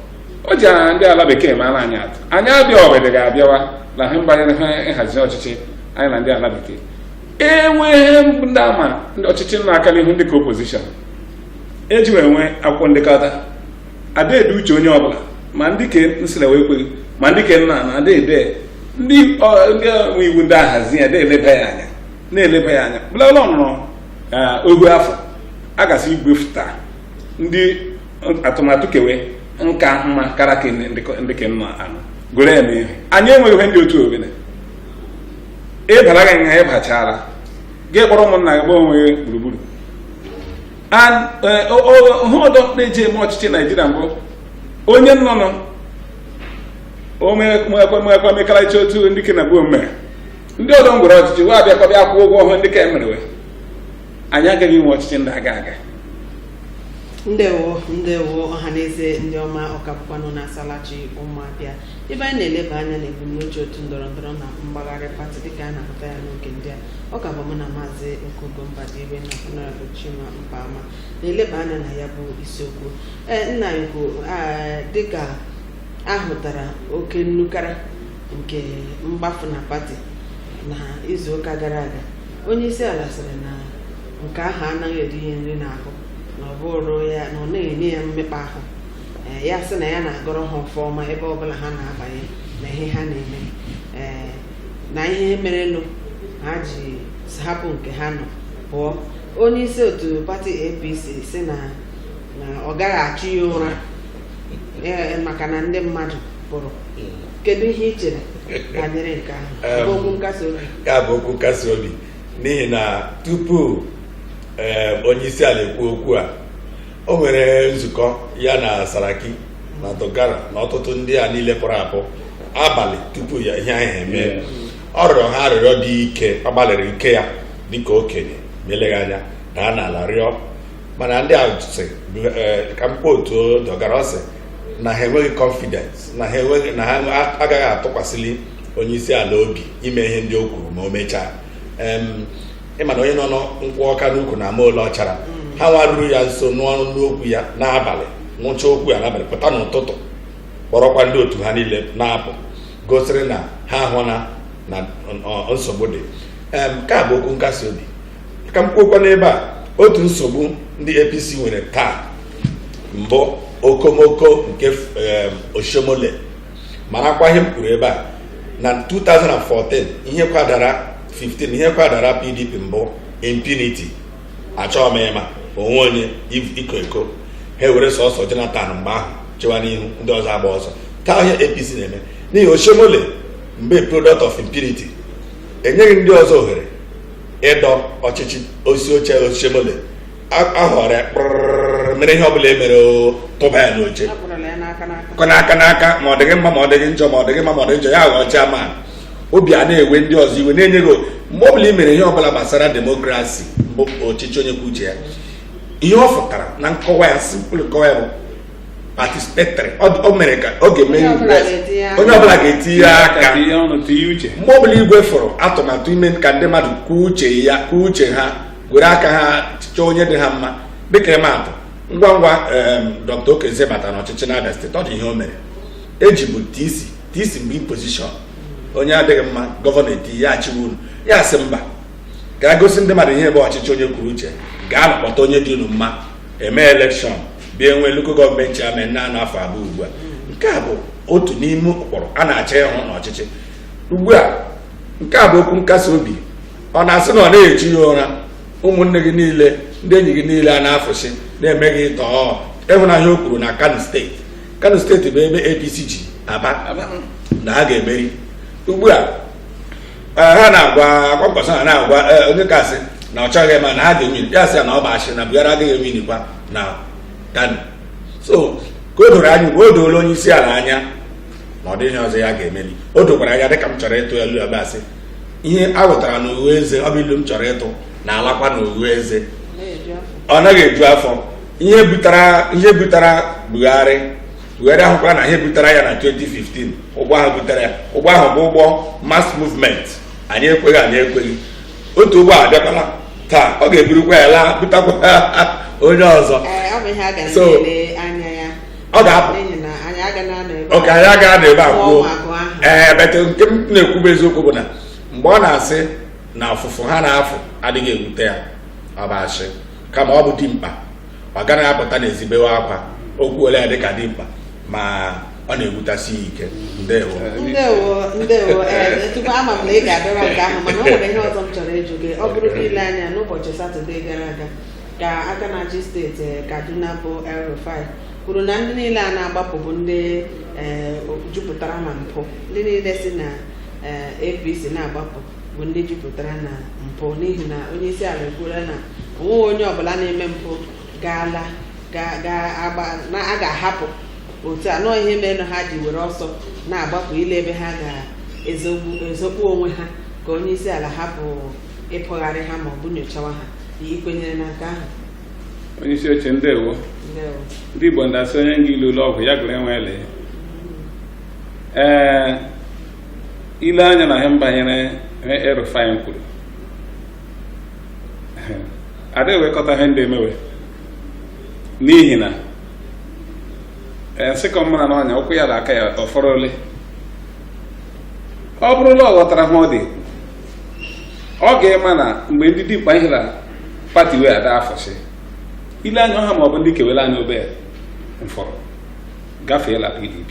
o ji ndị ala bekee maara anyị atụ anyị abịa ọbịdị ga-abịawa na he mgbanyere nhazi ọchịchị anyị na ndị ala bekee enweghị ndị ama ndị ọchịchị na-aka n'ihu ndị ka opposition eji wee nwee akwụkwọ ndekọta adaede uche onye ọbụla ma ndị ke nsịra wee kweghị ma ndị ke nna na adaede ndị nwe iwu ndị ahazi ya na-eleba ya anya bụlala ọnụrụ ohu afọ a gasị iwefụta ndị atụmatụ kewe nka mma kara ka ndị ke nna anụ gụrụ ya n'ihe anyị enweghị ihe ndị otu obele ịbara gị nha ịbachara gị kpọrọ ụmụnna gị gba onwe gburugburu ihe ọdọ na-eji eme ọchịchị naijiria mbụ onye nnọnụ omekwamekalachi otu ndị ke na bụ omume ndị ọdọ ngwere ọchịchị wa abịakwa bịa kwụọ ụgwọ ọhụrụ ndị ka emerewe anyị agaghị inwe ọchịchị na-aga aga ndewo ndewo ọhaneze ndị ọma ọ ka bụkwanụ na asalachi ụmụabịa ebe anyị na-eleba anya na ebumnuche otu ndọrọ ndọrọ na mgbagharị pati dịka a na-ahụta ya n'oge ndị a ọ ka bụ mụ na maazị okugo mbadiwe na honorable chima mpama na-eleba anya na ya bụ isiokwu ee nna ukwu dịka ahụtara oke nnukara nke mgbafu na pati na izuụka gara aga onye isi ala sịrị na nke ahụ anaghị eri ihe nri n'ahụ na ọ bụrụ ya na ọ naghị enye ya mmekpa ahụ ee ya sị na ya na-agọrọ ha ọfọ ọma ebe ọbụla ha na-abanye na ihe ha na-eme ee na ihe merenụ ha ji hapụ nke ha nọ pụọ onye isi otu pati apc sị na na ọ gaghị achụ ya ụra ee, maka na ndị mmadụ pụrụ kedu ihe i chere banyere nke ahụ Ọ bụ okwu nkasi obi ya bụ okwu nkasi obi n'ihi na tupu ee, onye isi ala ekwu okwu a o nwere nzukọ ya na Saraki na Dogara na ọtụtụ ndị a niile pụrụ apụ abalị tupu ya ihe ahụ emee ọ rịọrọ ha arịrịọ dị ike ọ gbalịrị ike ya dịka okenye ma eleghị anya daa n'ala rịọ mana ndị a sị eh, ka m quote Dogara ọ sị na ha enweghị confidence na ha enweghị na ha agaghị atụkwasịli onye isi ala obi ime ihe ndị o kwuru ma o mechaa ị ma na onye nọ nkwụ ọka n'ukwu na-ama ole ọ chara ha nwa ruru ya nso nọ nụ okwu ya n'abalị nụcha okwu ya n'abalị pụta n'ụtụtụ kpọrọkwa ndị otu ha niile na-apụ gosiri na ha ahụna na nsogbu dị Em, nke a bụ okwu nkasi obi ka m kwuokwa n'ebe a otu nsogbu ndị apc nwere taa mbụ okomoko nke em, oshiomhole marakwa ihe m kwuru ebe a na 2014 ihe kwadara 15 ihe kwadara pdp mbụ impunity achọghị m ịma onwe onye iko eko ha were sọsọ jonathan mgbe ahụ chewa n'ihu ndị ọzọ agbaa ọsọ taa ihe apc na-eme n'ihi oshiomhole mbụ product of impunity enyeghị ndị ọzọ ohere ịdọ ọchịchị isi oche oshiomhole ahọrọ ya kpụrụrụrụ mere ihe ọbụla e mere o tụba ya n'oche akpụrụla ya n'aka n'aka kọ n'aka n'aka ma ọ dịghị mma ma ọ dịghị njọ ma ọ dịghị mma ma ọ dịghị njọ ya ghọọ chairman ọ bịa na-ewe ndị ọzọ iwe na-enye gị o- mgbe ọbụla i mere ihe ọbụla gbasara demokrasi bụ ọchịchị onye kwuo uche ya ihe ọ fụtara na nkọwa ya simple nkọwa ya bụ participatory ọ dị- o mere ka ọ ga-eme Onye ọbụla ga-etinye aka. onye ọbụla ga-etinye aka tinye ọnụ tinye uche mgbe ọbụla i wefụrụ atụmatụ ime ka ndị mmadụ kwuo uche ya kwuo uche ha were aka ha chọọ onye dị ha mma dịka ịma atụ ngwa ngwa Dr. Okezie bata n'ọchịchị n'Abia steeti ọ dị ihe o mere e jibu TC TC mgbe position onye adịghị mma gọvanọ eti ya achịwa unu ya asị mba ka a gosi ndị mmadụ ihe bụ ọchịchị onye kwuru uche gaanụ kpọta onye dị unu mma eme election bịa enwe local government chairman na-anọ afọ abụọ ugbu a nke a bụ otu n'ime ụkpụrụ a na-achọ ịhụ n'ọchịchị ugbu a nke a bụ okwu nkasi obi ọ na-asị na ọ na-echu ya ụra ụmụnne gị niile ndị enyi gị niile a na-afụsị na-eme gị tọọ ịhụnanya o kwuru na kano steeti kano steeti bụ ebe APC ji aba na ha ga-emeri ugbu a eh, ha na-agwa Kwankwaso ha na-agwa eh, onye kasị na ọ chọghị ma na ha ga-ewin ya sị ya na ọ bụ asị na Buhari agaghị ewinikwa na kano so ka o doro anya ugbu o doola onye isi ala anya na ọ dịghị ụzọ ya ga-emeli o dokwara anya dịka m chọrọ ịtụ ilu ebe asị ihe a ghọtara n'oghe eze ọ bụ ilu m chọrọ ịtụ na-alakwa n'oghe eze ọ naghị eju afọ ihe butara ihe butara Buhari Buhari ahụkwala na ihe butara ya na 2015 ụgbọ ahụ butere ya ụgbọ ahụ bụ ụgbọ mass movement anyị ekweghị anyị ekweghị otu ụgbọ a abịakwala taa ọ ga-eburukwa ya laa butakwa onye ọzọ so ọ ga-apụ n'ihi na anyị agaghị anọ ebe okay anyị agaghị anọ ebe a kwuo Ụmụ agụ ahụ. ee but nke m na-ekwu bụ eziokwu bụ na mgbe ọ na-asị na ọfụfụ ha na-afụ adịghị ewute ya ọ bụ asị kama ọ bụ dimkpa ọ gaghị apụta n'ezi bewe akwa o kwuole ya dịka dimkpa ma ọ na-ewutasi ya ike ndewo ndewo ndewo ee tupu ama m na ị ga-adọrọ nke ahụ mana o nwere ihe ọzọ m chọrọ ịjụ gị ọ bụrụ na i lee anya n'ụbọchị satọde gara aga ka aka na-achị steeti eh, Kaduna bụ El Rufai kwuru na ndị niile a na-agbapụ bụ ndị eh, jupụtara na mpụ ndị niile si na eh, APC na-agbapụ bụ ndị jupụtara na mpụ n'ihi na onye isi ala ekwuola na o nweghị onye ọbụla na-eme mpụ ga-ala a ga-ahapụ otu a na ọọ ihe merenụ ha ji were ọsọ na-agbapụ ile ebe ha ga-ezokpu onwe ha ka onye isi ala hapụ ịkpọgharị ha ma ọ bụ nyochawa ha i kwenyere na nke ahụ onye isi oche ndewo ndewo ndị igbo nda asị onye nga ilu ụlọ ọgwụ ya gụrụ enwe ele ee ile anya na ihe mbanyere ihe El-Rufai kwuru ada ewekọta ihe ndị emewe n'ihi na ee nsịkọ mmara na ọnya ụkwụ ya na aka ya ọ fọrọ ole ọ bụrụ na ọ ghọtara ha ọ dị ọ ga-ema na mgbe ndị dimkpa ihe na pati wee ada afọsị ile anya ọha ma ọ bụ ndị kewere anya obe mfọrọ gafee la pdp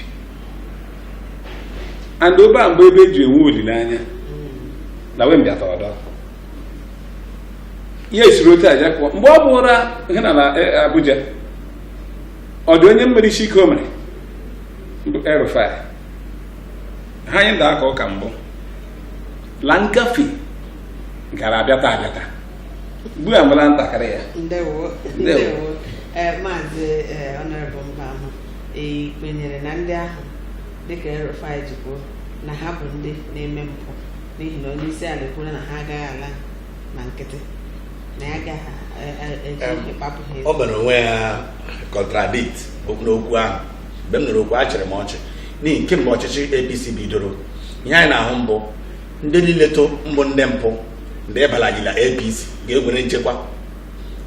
and obe a mgbe ebe eji enwe olileanya na wee mbịata ọdọ ya esiri otu aja pụọ mgbe ọ bụụrụ ihe na na eh, abuja ọ dị onye mmere isi ike o mere bụ El-Rufai ha anyị nda aka ụka mbụ la ngafe gara abịata abịata ugbu a mara ntakịrị ya ndewo Ndewo. ndewo ee maazị ee honourable mba ahụ i kwenyere na ndị ahụ dịka El-Rufai ji kwuo na ha bụ ndị na-eme mpụ n'ihi na onye isi ala kwuru na ha agaghị ala na nkịtị na ya agaghị e- e- eji Em, ịkpapụ ha o mere onwe ya contradict n'okwu ahụ mgbe m nụrụ okwu achịrị m ọchị n'ihi kemgbe ọchịchị APC bidoro ihe anyị na-ahụ mbụ ndị niile to mbụ ndị mpụ ndị ịbalagila APC ga-enwere nchekwa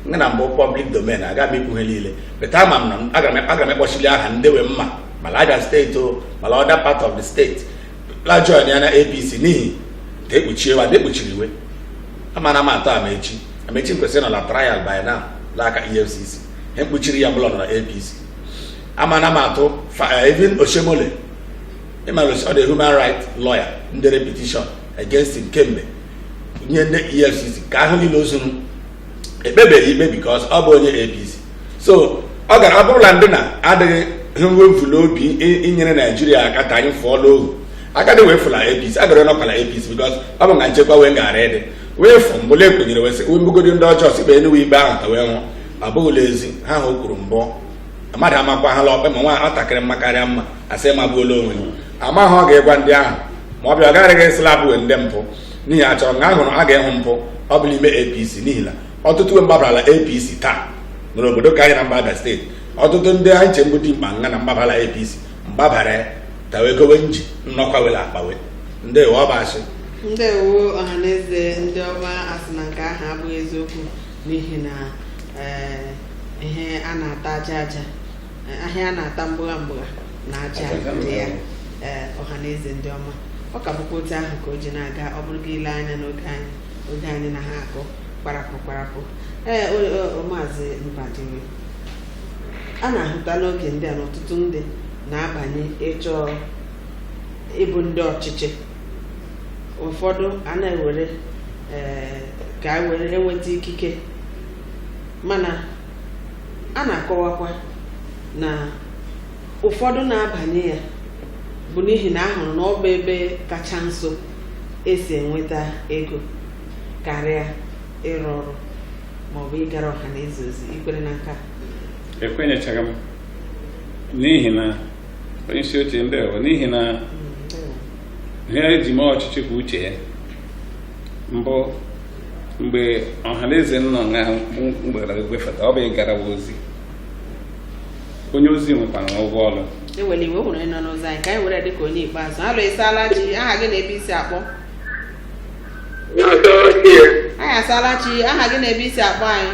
nga na mbụ public domain aga m ikwu ha niile but ama m na aga m ekpọsili aha ndị we mma ma Abia steeti o ma la other part of the state la join ya na APC n'ihi ka ekpuchie wa ekpuchiri we amana m atụ Amaechi Amaechi m kwesịrị nọ na trial by now n'aka EFCC ha ekpuchiri ya bụ la ọ nọ na APC amana m atụ even eh, Oshiomhole ịmara ọ dị human right lawyer ndere petition against him kemgbe nye ndị efcc ka ahụ niile ozuru ekpebeghị ikpe because ọ bụ onye apc so ọ gara ọ bụrụla ndị na adịghị evu n'obi inyere naijiria aka ka anyị fụọ n'ohu agadi wee fụla apc agara nọkwala apc because ọ bụ nga nchekwa wee gara ịdị wee fụ mbụla ekwenyere wee sị wee mbugodi ndị ọjọọ sị kpee nụ we ikpe ahụ ka wee nwụọ abụghịla ezi ha ha o kwuru mbụ mmadụ amakwa ha la ọkpe ma nwa nwatakịrị mma karịa mma asị magbuola onwe amaghị ọ ga-egwa ndị ahụ ma ọ bịa ọ gaghịrị asị la abụwe ndị mpụ n'ihi a chọrọ nga a hụrụ a ga-ehụ mpụ ọ bụ la ime apc n'ihi na ọtụtụ we mgbabarala apc taa nụrụ obodo ka anyị na mba abia steeti ọtụtụ ndị anyị nche mbụ dimkpa nga na mgbabala apc mgbabara tawegowe nji nnọkwa were akpawe ndị we Ọbasi ndewo ọhaneze ndị ọma asị na nke ahụ abụghị eziokwu n'ihi na ee, ihe a na-ata aja aja eh, ihe a na-ata mgbụgha mgbụgha na aja dị ya ee, ọha na eze ndị ọma ọ ka bụkwa otu ahụ ka o ji na-aga ọ bụrụ gị ile anya n'oge anyị oge anyị na ha akụ kparapụ kparapụ ee o- o- o, maazị mbadiwe a na-ahụta n'oge ndị a na ọtụtụ ndị na-abanye ịchọ ịbụ ndị ọchịchị ụfọdụ a na-ewere ee, ka e were enweta ikike mana a na-akọwakwa na ụfọdụ na-abanye ya bụ n'ihi na a hụrụ na ọ bụ ebe kacha nso e si enweta ego karịa ịrụ ọrụ maọbụ ịgara ọha na eze ozi i kwere na nke a ekwenyechaghị m n'ihi na onye isi oche ndewo n'ihi na ihe e ji mee ọchịchị bụ uche ya mbụ mgbe ọhaneze nọ na mgbara egwefeta ọ bụ ịgara ozi onye ozi nwekwara ụgwọ ọrụ enwere iwe hụrụ ịnọ n'ụzọ anyị ka anyị were dịka onye ikpeazụ alo ị saala chi aha gị na ebe i si akpọ anyị ị saala chi aha gị na ebe i si akpọ anyị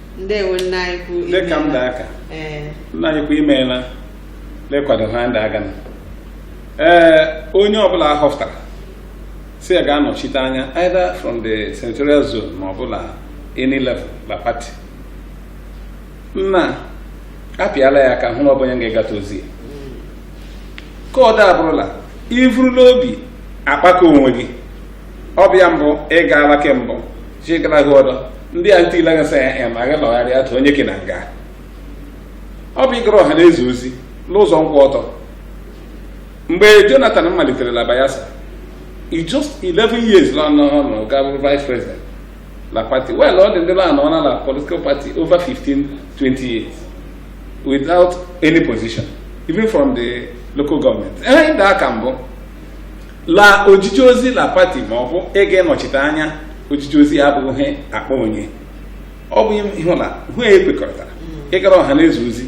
ndewo nna anyị ukwu dịka m da aka ee nna anyị ukwu i meela lekwado ha ndị aga na ee onye ọbụla a họpụtara sị ya gaa nọchite anya either from the senatorial zone ma ọ bụla any level la party nna apịala ya aka hụ na ọ bụ onye ga-egata ozi ya ka ọ da abụrụla ivuru la obi akpaka onwe gị ọ bụ ya mbụ ị gaala kembụ chigara gị ọdọ ndị a ntile gasị ya ya ma gị lọgharịa tụ onye gị na nga ọ bụ ịgara ọha na eze ozi n'ụzọ nkwụ ọtọ mgbe jonathan malitere la bayelsa in just 11 years la nọ nọ ga bụrụ vice president la party well ọ dị ndị la nọ na la political party over 15 20 years without any position even from the local government ihe m da aka mbụ la ojije ozi la pati ma ọ bụ ịga ịnọchite anya ojije ozi ya abụghị ihe akpa onye ọ bụ ịhụ na hụ ya ekwekọrịtara ịgara ọha na eze ozi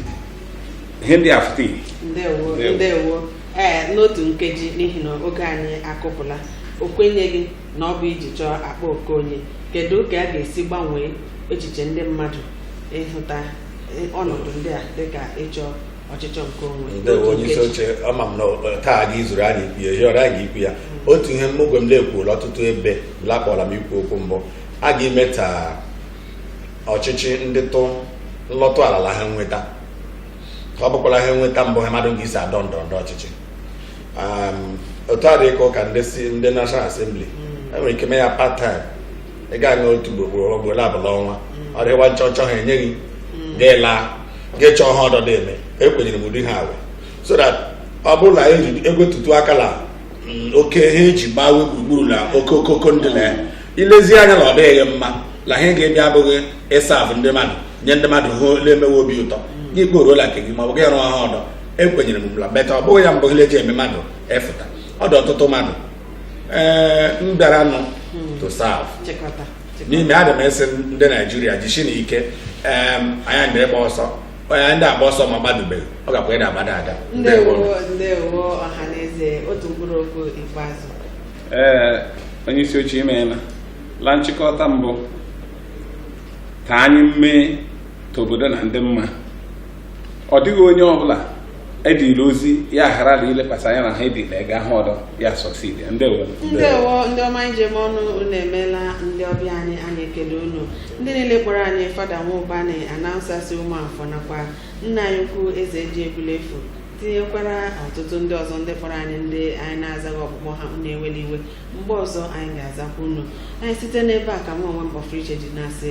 ihe ndị a fụta ihe ndewo Ndewo. ndewo ee n'otu nkeji n'ihi na oge anyị akụpụla o kwenyeghị na ọ bụ iji chọọ akpa nke onye kedu ka a ga-esi gbanwee echiche ndị mmadụ ịhụta eh, ọnọdụ ndị a dịka ịchọ ọchịchọ nke onwe ndewo onye isi oche ama m na eh, taa gị zuru anyị ikwu ya yọrọ anyị ikwu ya mm. otu ihe mmụgwe m na-ekwuola ọtụtụ ebe la a kpọla m ikwu okwu mbụ a ga-eme ka ọchịchị ndị tụ nlọtụ ala la ha nweta ka ọ bụkwala ha nweta mbụ ha mmadụ ga-esi adọ ndọrọ ndọrọ ọchịchị otu a dị ka ụka ndị si ndị National Assembly mm. enwere ike mee ya part time ị gaa nụ otu ugboro ugboro abụọ la ọnwa mm. ọ dịwa nchọchọ ha enye gị ga-ela ga-echọ ha ọdọ dị eme ekwenyere m ụdị ha awe so that ọ bụrụ na egwetutu aka la mm, oke ha eji gbawe gburugburu na oke okoko ndị na ya ilezi anya na ọ dịghị mma na ihe ga-ebịa abụghị ịserve ndị mmadụ nye ndị mmadụ ihe na-emewe obi ụtọ gị kporuola nke gị ma ọ bụ gị rụọ ha ọdọ ekwenyere m la beta ọ bụghị ya mbụ ihe eji eme mmadụ efụta ọ dị ọtụtụ mmadụ ee m bịara nụ to serve chịkọta n'ihi na adị m ịsị ndị naijiria jisi nụ ike onye ndị ịgba ọsọ onye ndị agba ọsọ ma gbadubeghị ọ gakwa ịda agbada ada ndewo ndewo ọha na eze otu mkpụrụ okwu ikpeazụ ee onye isi oche imeela la nchịkọta mbụ ka anyị mee ka obodo na ndị mma ọ dịghị onye ọbụla edila ozi ya ghara na ilekwasị anya na ha edila ega ha ọdọ ya succeed ndewo ndewo ndị ọma anyị ji eme ọnụ unu emeela ndị ọbịa anyị anyị ekele unu ndị niile kpọrọ anyị fada nwaụbani announcer si ụmụafọ nakwa nna anyị ukwu eze ji egbulefu tinyekwara ọtụtụ ndị ọzọ ndị kpọrọ anyị ndị anyị na-azaghị ọkpụkpọ ha unu ewela iwe mgbe ọzọ anyị ga-azakwa unu anyị site n'ebe a ka m onwe m kpọfụrụ iche ji na-asị